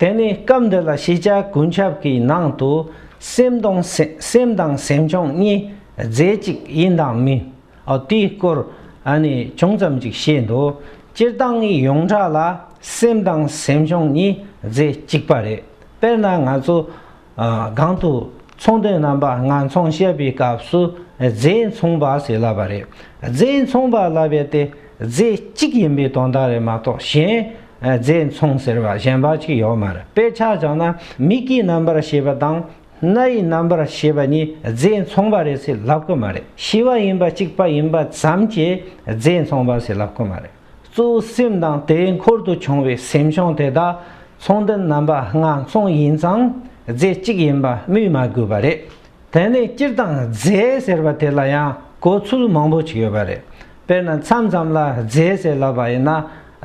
དེ་ནས་སྐབས་འདི་ལ་ཤེས་བྱ་ཀུན་ཁྱབ་ཀྱི་ནང་དུ་སེམས་དང་སེམས་དང་སེམས་བྱུང་གཉིས་རྫས་གཅིག་ཡིན་དང་མིན། དེའི་སྐོར་ཅུང་ཙམ་ཅིག་བཤད་འདུག་སྤྱིར་བཏང་གི་ཡོངས་གྲགས་ལ་སེམས་དང་སེམས་བྱུང་གཉིས་རྫས་གཅིག་པ་རེད། དཔེར་ན་ང་ཚོ། སྒང་དུ་ཚོང་དོན་རྣམ་པ་ལྔ་འཚོང་བཤད་པའི་སྐབས་སུ་རྫས་འཚོང་པ་ཞེས་ལབ་པ་རེད། རྫས་འཚོང་པ་ལབ་པའི་དེ་རྫས་གཅིག་ཡིན་པའི་དོན་དག་རེད་མ་གཏོགས་གཞན་རྫས་འཚོང་ཟེར་བ་གཞན་པ་གཅིག་ཡོད་མ་རེད། དཔེ་ཆ་བཞག་ན་མིག་གི་རྣམ་པར་ཤེས་པ་དང་སྣ་ཡི་རྣམ་པར་ཤེས་པ་གཉིས་རྫས་འཚོང་པ་རེད་ཟེར་ལབ་ཀི་མ་རེད། ཤི་བ་ཡིན་པ་གཅིག་པ་ཡིན་པ་ཙམ་གྱིས་རྫས་འཚོང་པ་ཞེས་ལབ་ཀི་མ་རེད། གཙོ་བོ་སེམས་དང་དེ་འཁོར་དུ་བྱུང་བའི་སེམས་བྱུང་དེ་དག་མཚུངས་ལྡན་རྣམ་པ་ལྔ་མཚུངས་ཡིན་ཙང་རྫས་གཅིག་ཡིན་པ་སྨོས་མ་དགོས་པ་རེད། དེ་ནས་སྤྱིར་བཏང་རྫས་ཟེར་བ་དེ་ལ་ཡང་གོ་ཚུལ་མང་པོ་ཞིག་ཡོད་པ་རེད། དཔེར་ན་མཚམས་ཙམ་ལ་རྫས་ཟེར་ལབ་པ་ཡིན་ན་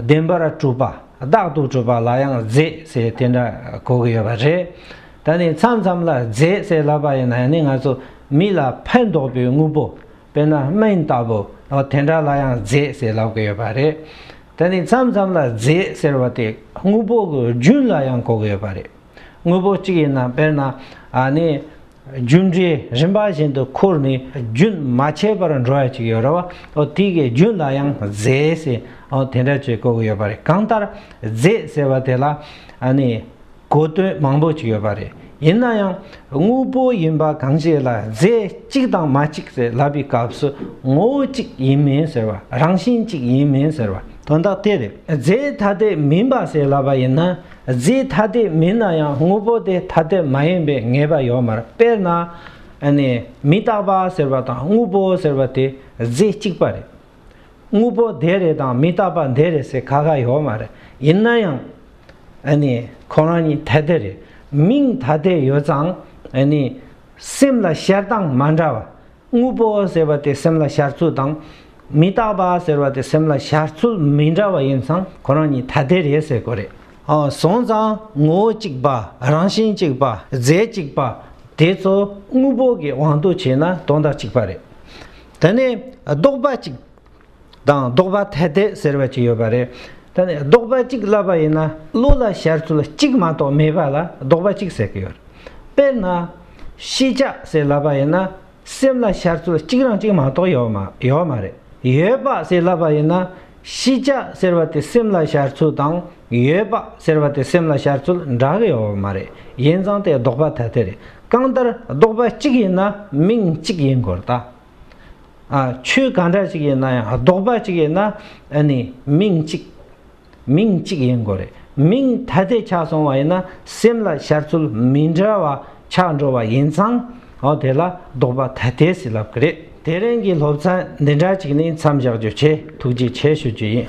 བདེན་པར་གྲུབ་པ་བདག་ཏུ་གྲུབ་པ་ལ་ཡང་རྫས་ཟེར་དེ་འདྲ་གོ་གི་ཡོད་པ་རེད། ད་ནི་མཚམས་ཙམ་ལ་རྫས་ཟེར་ལབ་པ་ཡིན་ན་ཡང་ནི་ང་ཚོ་མི་ལ་ཕན་འདོགས་པའི་དངོས་པོ་དཔེར་ན་སྨན་ལྟ་བུ། དེ་འདྲ་ལ་ཡང་རྫས་ཟེར་ལབ་ཀྱི་ཡོད་པ་རེད། དེ་ནི་མཚམས་མཚམས་ལ་རྫས་ཟེར་བ་དེ་དངོས་པོ་གི་རྒྱུན་ལ་ཡང་གོ་གི་ཡོད་པ་རེད། དངོས་པོ་གཅིག་ཡིན་ན་དཔེར་ན་ནི་རྒྱུ་འབྲས་རིམ་པ་བཞིན་དུ་ཁུར་ནས་རྒྱུན་མ་ཆད་པར་འགྲོ་བ་ཅིག་ཡོད་རེད། དེ་གའི་རྒྱུན་ལ་ཡང་རྫས་ཟེར། དེ་འདྲ་བཅས་གོ་གི་ཡོད་པ་རེད། གང་ལྟར་རྫས་ཟེར་བ་དེ་ལ་ནི། གོ་དོན་མང་པོ་ཞིག་ཡོད་པ་རེད། ཡིན་ན་ཡང་དངོས་པོ་ཡིན་པ་གང་ཞིག་ལ་རྫས་གཅིག་དང་མ་གཅིག་ཟེར་ལབ་པའི་སྐབས་སུ་ངོ་བོ་གཅིག་ཡིན་མིན་ཟེར་བ་རང་བཞིན་གཅིག་ཡིན་མིན་ཟེར་བ་དོན་དག་དེ་རེད། རྫས་ཐ་དད་མིན་པ་ཟེར་ལབ་པ་ཡིན་ན་རྫས་ཐ་དད་མིན་ན་ཡང་དངོས་པོ་དེ་ཐ་དད་མ་ཡིན་པའི་ངེས་པ་ཡོད་མར་དཔེར་ན། མི་རྟག་པ་ཟེར་བ་དང་དངོས་པོ་ཟེར་བ་དེ་རྫས་གཅིག་པ་རེད། དངོས་པོ་དེ་རེད་དང་མི་རྟག་པ་འདི་རེད་ཟེར་ག་ག་ཡོད་མ་རེད་ཡིན་ན་ཡང། ཨ་ནི་ཁོ་རང་གཉིས་ཐ་དད་རེད་མིང་ཐ་དད་ཡོད་ཙང་ཨ་ནི། སེམས་ལ་ཤར་སྟངས་མ་འདྲ་བ། དངོས་པོ་ཟེར་བ་དེ་སེམས་ལ་ཤར་ཚུལ་དང། མི་རྟག་པ་ཟེར་བ་དེ་སེམས་ལ་ཤར་ཚུལ་མི་འདྲ་བ་ཡིན་ཙང་ཁོ་རང་གཉིས་ཐ་དད་རེད་ཟེར་དགོས་རེད། སོང་ཙང་ངོ་བོ་གཅིག་པ་རང་བཞིན་གཅིག་པ་རྫས་གཅིག་པ་དེ་ཚོ་དངོས་པོ་གི་དབང་དུ་བྱས་ན་དོན་དག་གཅིག་པ་རེད། དེ་ནས་ཟློག་པ་གཅིག་དང་ཟློག་པ་ཐལ་ཐལ་ཟེར་བ་གཅིག་ཡོད་པ་རེད། དེ་ནས་ཟློག་པ་གཅིག་བསླབ་པ་ཡིན་ན་བློ་ལ་ཤར་ཚུལ་གཅིག་མ་གཏོགས་མེད་པ་ལ་ཟློག་པ་གཅིག་ཟེར་གྱི་ཡོད། དཔེར་ན། ཤེས་བྱ་ཟེར་བསླབ་པ་ཡིན་ན་སེམས་ལ་ཤར་ཚུལ་གཅིག་རང་གཅིག་མ་གཏོགས་ཡོད་མ་རེད། ཡོད་པ་ཟེར་བསླབ་པ་ཡིན་ན་ཤེས་བྱ་ཟེར་བ་དེ་སེམས་ལ་ཤར་ཚུལ་དང་ཡོད་པ་ཟེར་བ་དེ་སེམས་ལ་ཤར་ཚུལ་འདྲ་གི་ཡོད་མ་རེད་ཡིན་ཙང་དེ་ལྡོག་པ་ཐ་དད་རེད་གང་ལྟར་ལྡོག་པ་གཅིག་ཡིན་ན་མིང་གཅིག་ཡིན་དགོས་རེད་ད་ཆོས་གང་འདྲ་ཞིག་ཡིན་ན་ཡང་ལྡོག་པ་གཅིག་ཡིན་ན་ནི་མིང་གཅིག་མིང་གཅིག་ཡིན་དགོས་རེད་མིང་ཐ་དད་ཆགས་སོང་བ་ཡིན་ན་སེམས་ལ་ཤར་ཚུལ་མི་འདྲ་བ་ཆགས་འགྲོ་བ་ཡིན་ཙང། ཨོ་དེ་ལ་ལྡོག་པ་ད་ལྟའི་སྲིད་ལབ་ཀི་རེད། དེ་རིང་གི་སློབ་ཚན་འདི་འདྲ་ཅིག་ནི་མཚམས་བཞག་རྒྱུ་ཆེ་ཐུགས་རྗེ་ཆེ་ཞུ་རྒྱུ་ཡིན།